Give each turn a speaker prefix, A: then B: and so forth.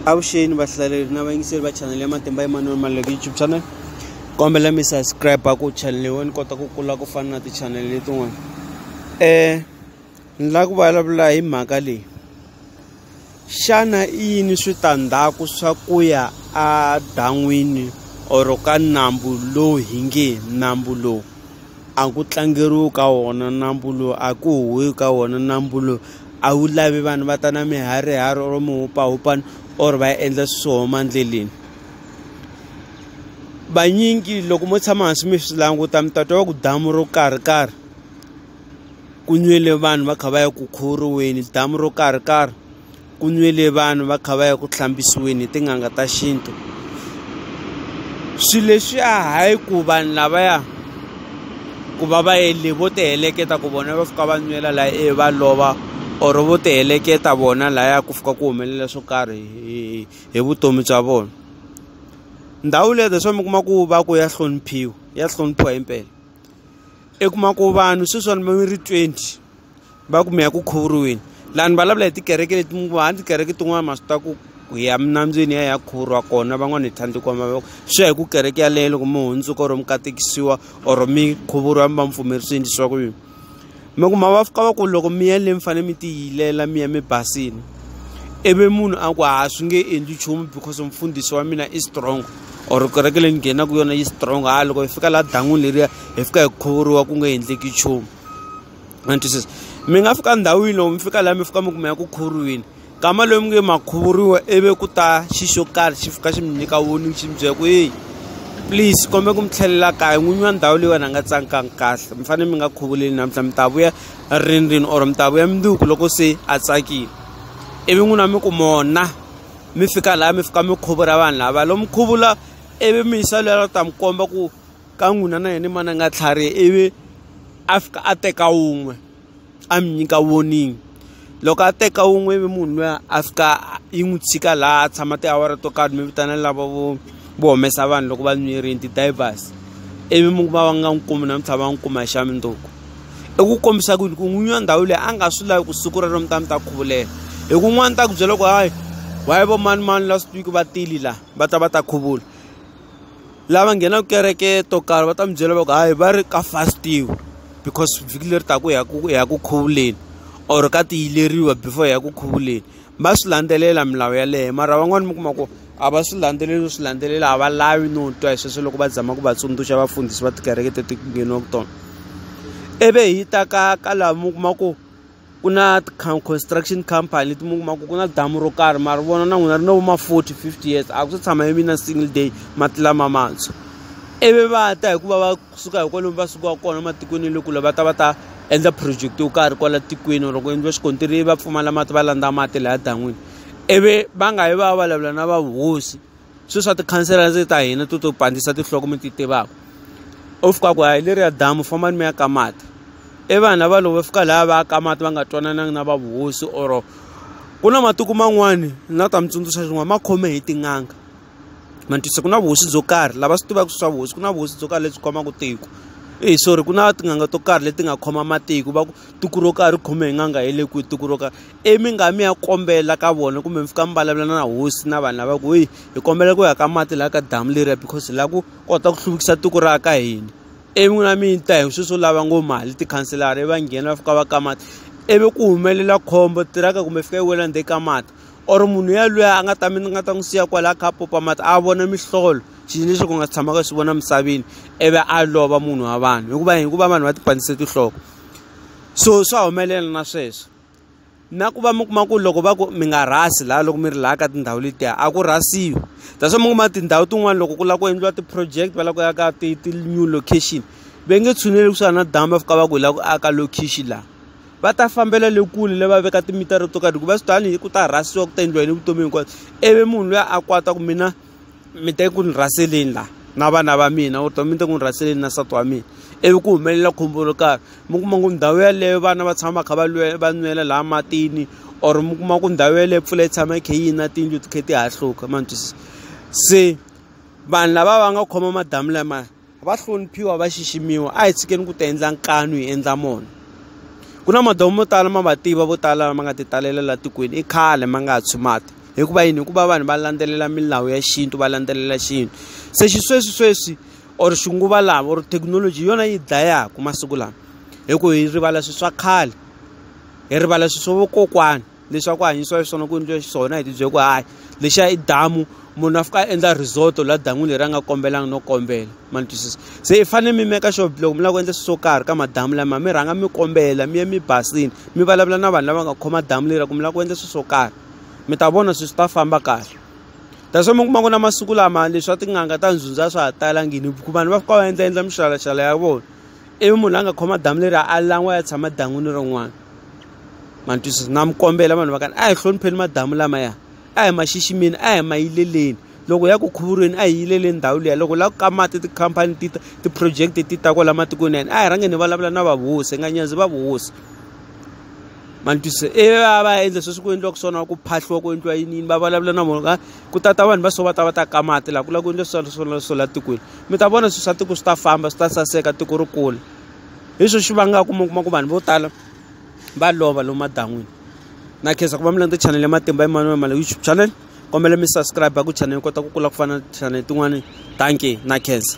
A: avuxeni vahlaleri na vayingiseri va chanele ya matimba emanuel maleke youtube channel kombela mi subscribe ku chanele yo ni kota ku kula ku fana na tichanele letin'wana um ni lava ku vulavula hi mhaka leyi xana i yini switandzhaku swa ku ya edan'wini or ka nambu lowu hi nge nambu lowu a ku tlangeriwi ka wona nambu lowu a ku huhi ka wona nambu lowu a wu lavi vanhu va ta na miharihari or mihupahupana or va endla swi swo homa endleleni vanyingi loko mo tshama hansi mi swi languta mi ta twa va ku damu ro karhi karhi ku nwile vanhu va kha va ya ku khuriweni damu ro karhi karhi ku nwile vanhu va kha va ya ku hlambisiweni hi tin'anga ta xintu swi leswiya hayi ku vanhu lavaya ku va va endle vo ti heleketa ku vona va fika va nwela la e va lova or vo ti heleketa vona laya ku fika ku humelela swo karhi hi hi vutomi bya vona ndhawu leyi that's why mi kuma ku va ku ya hloniphiwa ya hloniphiwa himpela i kuma ku vanhu sweswiwani mi ri twenty. va ku mi ya ku khuvuriweni lani vulavula hi tikereke leti mi ku handi tikereke tin'wana ma swi ta ku hi ya minambyeni ya ya khuvuriwa kona van'wana hi tlhandle kwama mavoko swi ya hi ku kereke yaleyo loko mi hundzuka or mi katekisiwa or mi khuvuriwa mi va mi pfumerisini leswaku yini mi ku ma va fika va ku loko mi ya le mi fanele mi tiyilela mi ya mi basile ivi munhu a ku ha swi nge endli nchumu because mfundhisi wa mina i strong or kereke leyi ni nghenaka yona yi strong ha loko hi fika laha dan'wini leriya hi fika hi khuvuriwa ku nga endleki nchumu ma ni twisisa mi nga fika ndhawini loko mi fika laha mi fika mi kuma ya ku khuriwile kama loyi mi nge ma khuvuriwa ivi ku ta xi xo karhi xi fika xi mi nyika warning xi mi byela ku heyi please kombe ku mi tlhelela kaya n'winyi wa ndhawu leyiwani a nga tsangikangi kahle mi fanele mi nga khuvuleli namuntlha mi ta vuya rindrini or mi ta vuya mundzuku loko se a tsakile ivi n'wina mi ku mona mi fika laha mi fika mi khuvula vanhu lava lomu khuvula ivi mi yisa lweyi a nga ta mi komba ku ka n'wina na yena mana nga tlhariha ivi a fika a teka wun'we a mi nyika warning loko a teka wun'we ivi munhu luya a fika yi n'wi tshika laha a tshama tiawara to karhi mi vitana lava vo vo humesa vanhu loko va nwirini ti-divers ivi mi kuma va nga n'wi kumi namuntlha va n'wi kuma hi xa mundzuku i ku kombisa ku yini ku n'winyi wa ndhawu leyi a nga swi lavi ku siku rero mi ta mi ta khuvulela hi ku n'wana ta ku byela ku hayi why vo manimani last week va tile laha va ta va ta khuvula. lava nghenaka kereke to karhi va ta mi byela va ku hayi va ri ka fastiwa because vhiki leri taka ya ku ya ku khuvuleni or ka tiyileriwa before ya ku khuvuleni va swi landzelela milawu yaleyo mara van'wani mi kuma ku a va swi landzeleli no swi landzelela a va lavi no twa hi sweswo loko va zama ku va tsundzuxa vafundhisi va tikereke teti ku ngheniwaku tona ivi hi ta ka ka laha mi kuma ku ku na ti-construction company leti mi kuma ku ku na damu ro karhi mara vona na n'wina ri na vo ma forty fifty years a ku se tshama yi vi na single day mati lama mantshwa ivi va ta hikuva va suka hi kwalomu va sukaka kona ematikweni ya le kule va ta va ta endla project yo karhi kwala tikweni or ku endliwa xikontiri va pfumala mati va landza mati laya dan'wini ivi va nga yi va ya vulavula na va hosi. swilo swa tikhansela ndzi ta hina to to pandzisa tinhloko mi ti tivaka u fika ku a hi leriya damu fambani mi ya ka mati i vanhu lava loko va fika laha va ya ka mati va nga twanananga na va vuhosi or ku na matiko man'wani na ta mi tsundzuxa xin'wana ma khome hi tin'anga ma tisa ku na vuhosi byo karhi lava swi tivaka swa vuhosi ku na vuhosi byo karhi lebyi khomaka tiko i sorry ku na tin'anga to karhi leti nga khoma matiko va ku tiko ro karhi ri khome hi n'anga hi le kwihi tiko ro karhi I mi nga mi ya kombela ka vona kumbe mi fika mi vulavula na hosi na vanhu lava ku heyi hi kombela ku ya ka mati laha ka damu leriya because hi lava ku kota ku hluvukisa tiko ra ka hina ivi n'wina mi ta hi sweswo lava ngo mali tikhanselara ivi va nghena va fika va ka mati ivi ku humelela khombo tiraka kumbe fika yi wela ndzeni ka mati or munhu yalweyo a nga ta mi ni nga ta n'wi siya kwala a kha a pompa mati a vona mihlolo xilo lexi ku nga si tshamaka swi vona emisaveni ivi a lova munhu wa vanhu hikuva hikuva vanhu va ti pandzise tinhloko so swa humelela na sweswo. na ku va mi kuma ku loko va ku mi nga rhasi laha loko mi ri laha ka tindhawu letiya a ku rhasiwi that's why mi kuma tindhawu tin'wani loko ku lava ku endliwa ti-project va lava ku ya ka ti ti-new location va nge tshuneli kusuhani na damu va fika va ku hi lava ku aka location laha va ta fambela le kule le va veka timitara to karhi hikuva swi ta ni ku ta rhasiwa ku ta endliwa yini vutomi hinkwabyo ivi munhu luya a kwata ku mina. mi te ku ni rhaseleni la na vana va mina or mi te ku ni rhaseleni na nsati wa mina ivi ku humelela khombo ro karhi mi kuma ku ndhawu yeleyo vana va tshama va kha va lwela va nwela laha matini or mi kuma ku ndhawu yeleyo mpfula yi tshama yi kha yi na tiyindlu ti kha ti hahluka ma ni twisisa se vanhu lava va nga khoma madamu lamaya. va hloniphiwa va xiximiwa a hi tshikeni ku ti endla nkanu hi endla mona ku na madawu mo tala ma va tiva vo tala lama nga ti talela la tikweni i khale ma nga ha tshumati hikuva yini hikuva vanhu va landzelela milawu ya xintu va landzelela xintu se xisweswi sweswi or xinguva lava or thekinoloji yona yi dlayaka masiku lama hi ku hi rivala swi swa khale hi rivala swi swa vokokwana leswaku ku hanyisiwa xiswona ku endliwe xiswona hi tibyele ku hayi lexiya i damu munhu a fika a endla resort la dan'wini leri a nga kombelanga no kombela ma ni twisisa se i fanele mi meka sure loko mi lava ku endla swilo swo karhi ka madamu lama mi rhanga mi kombela mi ye mi basile mi vulavula na vanhu lava nga khoma damu leri ku mi lava ku endla swilo swo karhi mi ta vona swilo swi ta famba kahle that's why mi kuma ku na masiku lama leswi swa tin'anga ta ndzundza swa ha talangini hikuva vanhu va fika va endla endla mixalashala ya vona ivi munhu la nga khoma damu leri a lan'wa ya tshama dan'wini rin'wana ma ni twisisa na mi kombela vanhu va ka a hi hlonipheni madamu lamaya a hi ma xiximeni a hi ma yileleni loko ya ku khuvurweni a hi yileleni ndhawu liya loko la ku ka mati tikhampani ti ta ti-project ti ta kwala matikweni yani a hi rhange ni vulavula na vavuhosi nga nyanzi vavuhosi ma ni twisisa e va va endla sweswi ku endliwaka swona ku phahliwa ku endliwa yini yini va vulavula na vona ka ku tata vanhu va so va ta va ta ka mati laha ku lava ku endla swilo swona swo la tikweni mi ta vona swilo swa tiko swi ta famba swi ta saseka tiko ri kula hi swo swi vangaka mi kuma ku vanhu vo tala va lova lomu madan'wini na khensa ku va mi landza channel ya matimba Emmanuel Mala YouTube channel kombela mi subscribe ku channel kota ku kula ku fana na channel tin'wani thank you na khensa